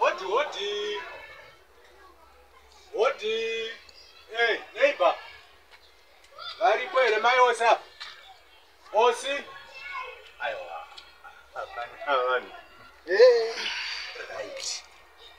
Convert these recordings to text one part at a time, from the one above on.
Hodi hodi. Hodi. Hey, neighbor. Varipo here mai ose apa? Osi? Aiwa. Hapana vanhu. Hey. Right.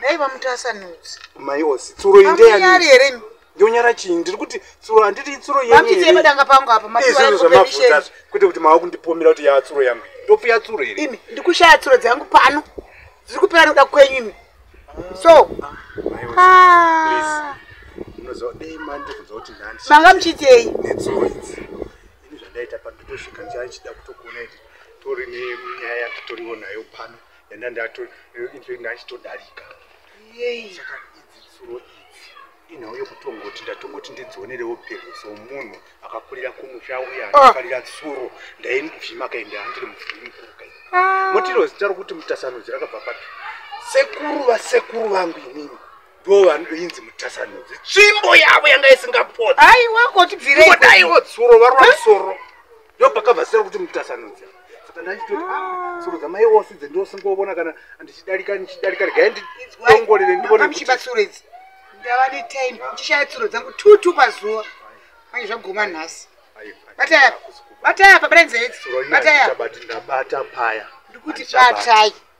dai vamutasanudzi mai osi tsuro indeyani here ndonyara chii ndiri kuti tsuro handiti itsuro yenyeemadanga pangu apa maizvozvo zvamavuta kwete kuti mava kundipomera kuti yava tsuro yangu ndopiya tsuro here ini ndikushaya tsuro dzangu pano dziri kupera noda kwenyu imi so manga muchiitei netsuro idzi ini zvandaita pandotosvika ndichida kutokuona iti tori nenyaya yatotoriwo nayo pano Yanda ndato eh, into ndachitodarika. Yei. Saka idzi tsuro idzi. Inhau yokutongoti ndatongoti ndidzionerewo phezu somunhu akakurira kumusha uye ah. akafarira tsuro ndaimuvhima kaenda andiri muvhimi mukuru kai. Ah. Motiro zita rokuti mutasanudzi rakabva papi? Sekuru vasekuru vangu inini ndo vanoinzi mutasanudzi tsvimbo yavo yanga isingapoti aiwa kotibvireidaiwo tsuro varova soro ndopakabva zita rokuti mutasanudza saka ndaitoti ah, soro dzamai ose dzendosingobona kana ndichidarika ndichidarika regai ndiongorere ndionemuchibatsura idzi ndava netime ndichishaya tsuro dzangu two two pazuva manje zvaguma nhasi bataya bataya pabatai nzeve idzi bataya ndabata paya ndikuti batai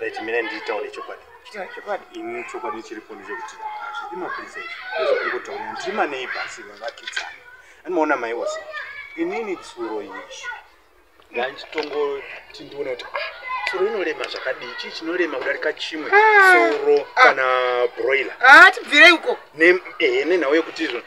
Right, mine nditaure chokwadi. Chitaure chokwadi. Ini chokwadi chiripo ndechekuti hazvidi mapurisa izvi. Ndozvokungotaurira ndiri maneighbors vavakidzana. Anoona mai wose. Inini tsuro iyi. Ndachitongoti ndione kuti tsuro ah, inorema zvakadii chii chinorema kudarika chimwe ah, tsuro ah. kana broiler. Ah, tibvirei uko. Ehe nenhau yekuti izvona.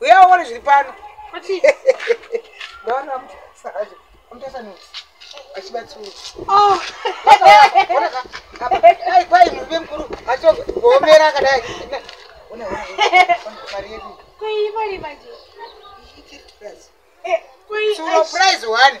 uya uone zviri pano kwai murume mukuru achoomera akadai surprise one